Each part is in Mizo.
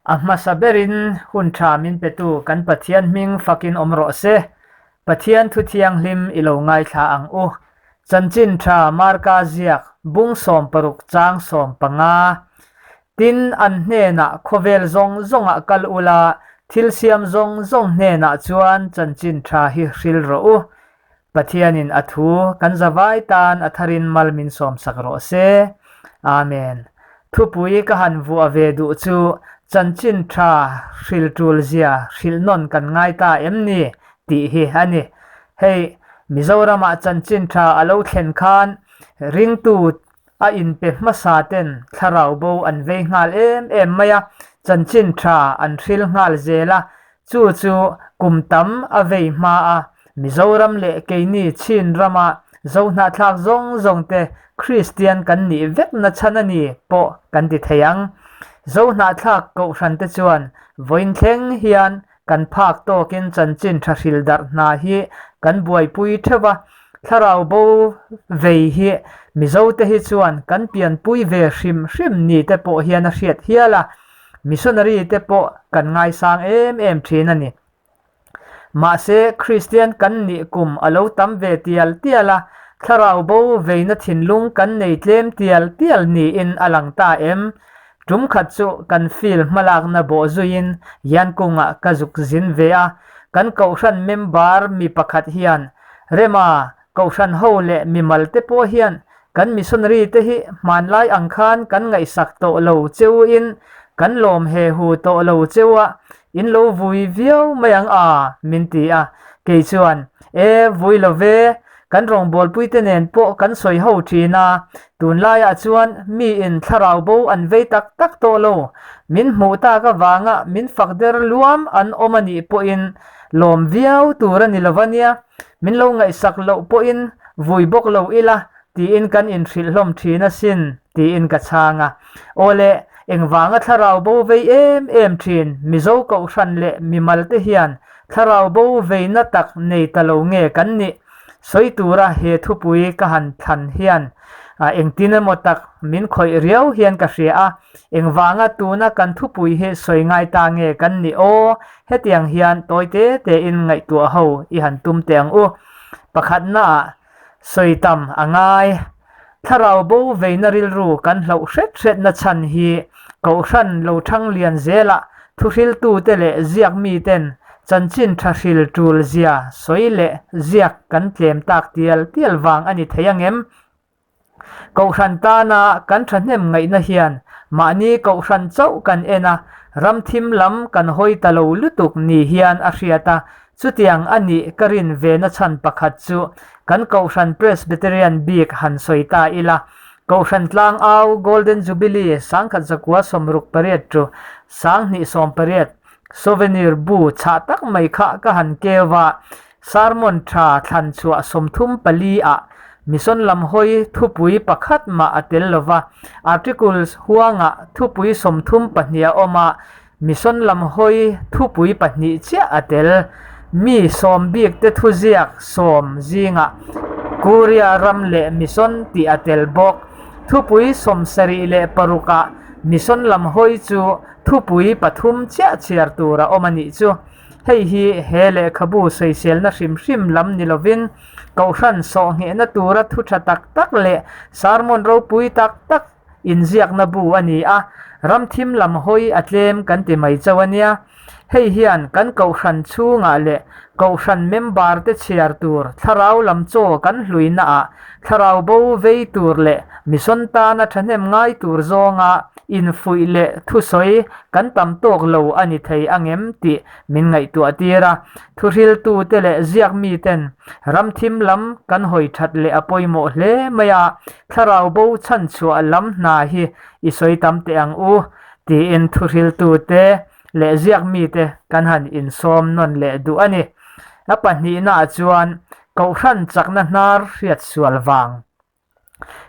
A hmasa berin hun tha min petu kan Pathian hming fakin awm rawh se. Pathian Thu Thianghlim i lo ngaithla ang u. Chanchin tha Marka ziak, bung sawm paruk chang sawm panga, Tin, an hnenah khawvel zawng zawngah kal ula, thilsiam zawng zawng hnenah chuan chanchin tha hi hril rawh u. Pathianin a thu kan zavai tan a tharin mal min sawmsak rawh se. Amen. Thupui ka han vuah ve duh chu chanchin tha hril tulzia hril nawn kan ngai ta em ni? tih hi a ni. Hei, Mizoramah chanchin tha a lo thlen khan ringtu A inpe hmasa ten thlarau bo an vei nghal em em mai a, chanchin tha an hril nghal zel a, chu chu kum tam a vei hma a, Mizoram leh keini Chin rama Zo hnahthlak zawng zawng te Kristian kan nih vek nachhan a ni pawh kan ti thei ang. Zo hnahthlak kohhran te chuan vawiin thleng hian kan phak tawkin chanchin tha hril darh hna hi kan buaipui theuh a. Thlarau bo vei hi Mizote hi chuan kan pianpui ve hrim hrim ni te pawh hian a hriat hial a, missionary te pawh kan ngaisang em em thin a ni. Mahse, Kristian kan nih kum a lo tam ve tial tial a, thlarau bo veina thinlung kan nei tlem tial tial niin a lang ta em? Tum khat chu kan field hmalakna bawh zuiin Yankunga ka zuk zin ve a, kan Kohhran member mi pakhat hian, Rema, Kohhran ho leh mimal te pawh hian kan missionary te hi hmanlai ang khan kan ngaihsak tawh lo cheuhin kan lawm he hu tawh lo cheu a, In lo vui viau mai ang a, min ti a. Kei chuan, E, vui lo ve, kan rawngbawlpui te nen pawh kan sawi ho thin a, tun laiah chuan mi in thlarau bo an vei tak tak tawh lo, min hmuh tak avanga min fak der luam an awm a nih pawhin lawm viau tur a ni lova nia, min lo ngaihsak loh pawhin vui bawk lo ila Tiin kan inhrilhhlawm thin asin, tiin ka chhang a. Awle, engvanga thlarau bo vei em em thin Mizo Kohhran leh mimal te hian thlarau bo veina tak nei ta lo nge kan nih? Sawi tura he thupui ka han thlan hian engtin emaw tak min khawih riau hian ka hria a, engvanga tuna kan thupui hi sawi ngai ta nge kan nih aw, hetiang hian tawi te tein ngaihtuah ho i han tum teh ang u. Pakhatnaah Sawi tam a ngai. Thlarau bo veina rilru kan hloh hret hret na chhan hi Kohhran Lothang lian zela thuhriltu te leh ziak mi ten chanchin tha hril tul zia sawi leh ziak kan tlem tak tial tial vang a ni thei angem? Kohhran tana kan thahnem ngaihna hian mahni kohhran chauh kan en a, ramthim lam kan hawi ta lo lutuk ni hian a hriat a, chutiang a nih ka rin ve na chhan pakhat chu kan Kohhran Presbyterian bik han sawi ta ila, Kohhran tlang au Golden Jubilee sangkhat zakua sawmruk pariat ṭu, sang hnih sawmpariat, Souvenir bu chhah tak mai kha ka han keu a, Sermon tha thlanchhuah sawmthum pali ah Mission lam hawi thupui pakhat mah a tel lova, Articles huangah thupui sawmthum pahnih a awm a, Mission lam hawi thupui pahnih chiah a tel. Mi sawm bik te thuziak sawm zingah Korea ram leh Mission tih a tel bawk. Thupui sawm sarih leh paruk ah Mission lam hawi chu thupui pathum chiah chhiar tur a awm a nih chu. Hei hi he lehkhabu sawiselna hrim hrim lam ni lovin, Kohhran sawhnghehna tura thu tha tak tak leh sarmon ropui tak tak inziakna bu a ni a, ramthim lam hawi a tlem kan ti mai chauh a nia. Hei hian kan Kohhran chhungah leh Kohhran member te chhiar tur thlarau lam chaw kan hluinaah Thlarau bo vei tur leh mihrawn tana thahnem ngai tur zawnga infuih leh thusawi kan tam tawk lo a ni thei ang em tih min ngaihtuah tir a, thuhriltute leh ziak miten ramthim lam kan hawi that leh a pawimawh hle mai a, thlarau bo chhanchhuah lam hna hi i sawi tam teh ang u, tiin thuhriltute leh ziak mite kan han insawm nawn leh duh a ni. A pahnihnaah chuan Kohhran chakna hnar hriat sual vang.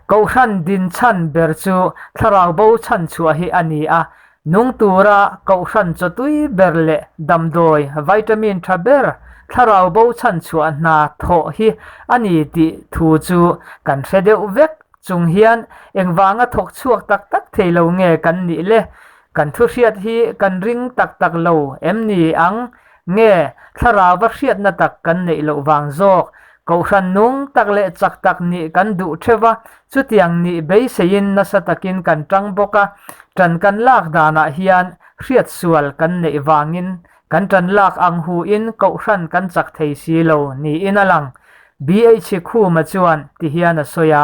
Kohhran din chhan ber chu thlarau bo chhan chhuah hi a ni a, nung tura Kohhran chaw tui ber leh damdawi, vitamin tha ber, thlarau bo chhan chhuah hna thawh hi a ni tih thu chu kan hre deuh vek. Chung hian engvanga thawk chhuak tak tak thei lo nge kan nih le? Kan thu hriat hi kan ring tak tak lo em ni ang? Nge thlarauva hriatna tak kan neih loh vang zawk? Kohhran nung tak leh chak tak nih kan duh theuh a, chutiang nih beiseiin nasa takin kan tang bawk a, tan kan lak danah hian hriat sual kan neih vangin kan tan lak ang hu in kohhran kan chak thei si lo niin a lang. BH Khuma chuan ti hian a sawi a,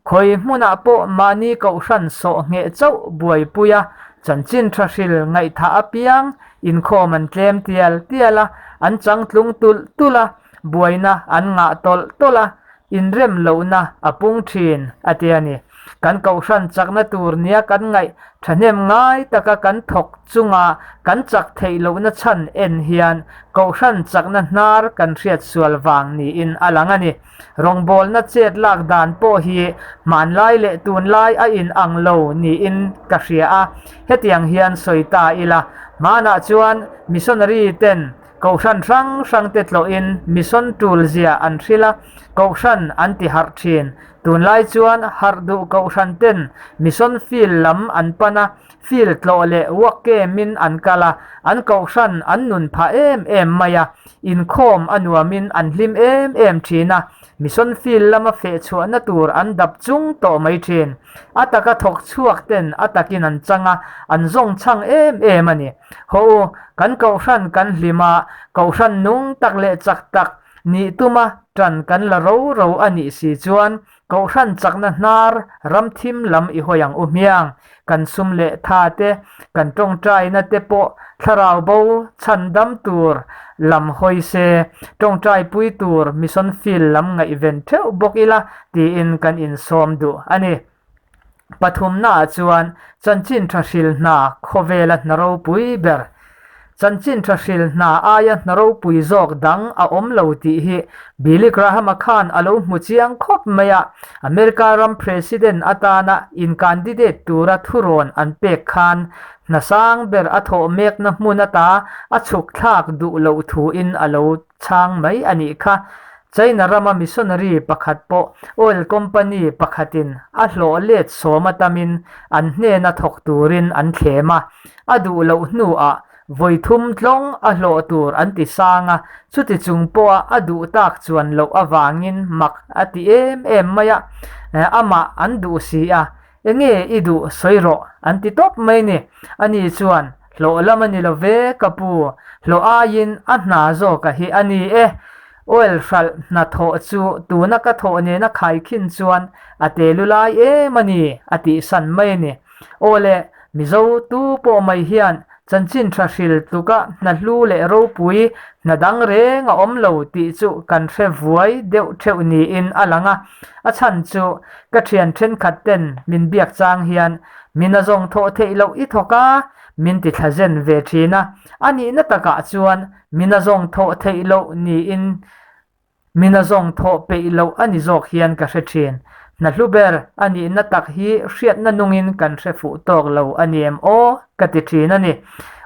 Khawi hmunah pawh mahni kohhran sawh ngheh chauh buaipui a, chanchin tha hril ngaihthah apiang inkhawm an tlem tial tial a, an changtlung tulh tulh a, buaina an ngah tawlh tawlh a, inrem lohna a pung thin a ti a ni. Kan kohhran chakna tur nia kan ngaih thahnem ngai taka kan thawk chunga kan chak theih lohna chhan en hian kohhran chakna hnar kan hriat sual vang niin a lang a ni. Rawngbawlna chet lak dan pawh hi hmanlai leh tunlai a inang lo niin ka hria a, hetiang hian sawi ta ila. Hmanah chuan missionary ten Kohhran hrang hrangte tlawhin mission tul zia an hrilh a, Kohhran an ti harh thin. Tunlai chuan harh duh Kohhran ten mission field lam an pan a, field tlawh leh uak kemin an kal a, an Kohhran an nun phah em em mai a, Inkhawm a nuamin an hlim em em thin a, Mission Field lama fehchhuahna tur an dap chung tawh mai thin. A taka thawk chhuak ten a takin an chang a, an zawng chhang em em a ni. Haw u, kan Kohhran kan hlim a, Kohhran nung tak leh chak tak, nih tuma tan kan la ro ro a nih si chuan Kohhran chakna hnar ram thim lam i hawi ang u hmiang, kan sum leh tha te, kan tawngtaina te pawh thlarau bo chhan dam tur lam hawi se, tawngtai pui tur mission field lam ngaihven theuh bawk ila tiin kan insawm duh a ni. Pathumnaah chuan Chanchinṭha hril hna khawvela hna ropui ber, Chanchinṭha hril hna aia hna ropui zawk dang a awm lo tih hi Billy Graham-a khan a lo hmu chiang khawp mai a, America ram President atana in-candidate tura thurawn an pek khan hna sang ber a thawh mekna hmun ata a chhukthlak duh loh thuin a lo chhang mai a nih kha. China rama missionary pakhat pawh oil company pakhatin a hlawh let sawm atamin an hnena thawk turin an thlem a, a duh loh hnuah vawi thum tlawng a hlawh tur an ti sang a, chutichung pawha a duh tak chuan loh avangin mak a ti em em mai a, amah an duh si a, Enge i duh sawi rawh an ti tawp mai ni. Ani chuan, Hlawh lam a ni lo ve ka pu, hlawh aiin a hna zawk a hi a ni e. Oil hralh hna thawh chu tuna ka thawh nena khai khin chuan a te lu lai em a ni, a tihsan mai a ni. Awle, Mizo tu pawh mai hian chanchin tha hril tluka hna hlu leh ropui hna dang reng a awm lo tih chu kan hre vuai deuh theuh niin a lang a. A chhan chu ka thian thenkhat ten min biak chang hian min a zawng thawh theih loh i thawk a, min ti thla zen ve thin a. A nihna takah chuan min a zawng thawh theih loh niin Min a zawng thawh peih loh a ni zawk hian ka hre thin. Hna hlu ber a nihna tak hi hriatna nungin kan hre fuh tawk lo a ni em aw? ka ti thin a ni.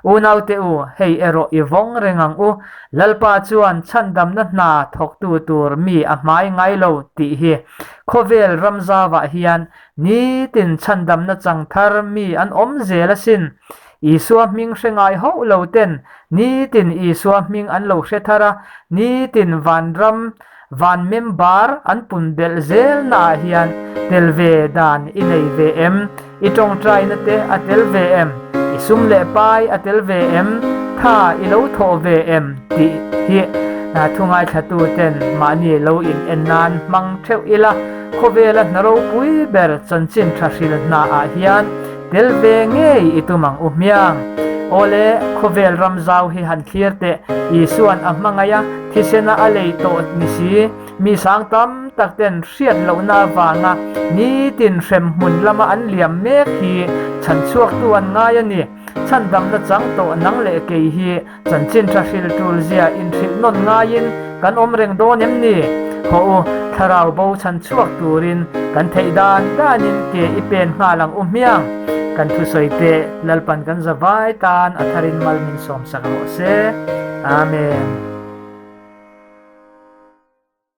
Unaute u, hei erawh i vawng reng ang u. Lalpa chuan chhandamna hna thawktu tur mi a hmai ngai lo tih hi khawvel ram zau ah hian nitin chhandamna chang thar mi an awm zel asin. Isua hming hre ngai hauh lo ten nitin Isua hming an lo hre thar a, nitin vanram, van member an pun belh zel naah hian tel ve dan i nei ve em? I tawngtaina te a tel ve em? I sum leh pai a tel ve em? Tha i lo thawh ve em? tih hi thungaithlatu ten mahni lo in-en nan hmang theuh ila khawvela hna ropui ber chanchin tha hril hnaah hian Tel ve ngei i tum ang u hmiang. Awle, khawvel ram zau hi han thlir teh. Isua'n a hmangaih a, thisena a lei tawh ni si. Mi sang tam tak ten hriat lohna avanga nitin hrem hmun lama an liam mek hi chhan chhuaktu an ngai a ni. Chhandamna chang tawh nang leh kei hi Chanchin tha hril tul zia inhrilh nawn ngaiin kan awm reng dawn em ni? Haw u, thlarau bo chhan chhuak turin kan theih dan danin ke i pen nghal ang u hmiang. Kan thusawi teh, Lalpan kan za vai tan a tharin mal min sawmsak rawh se. Amen.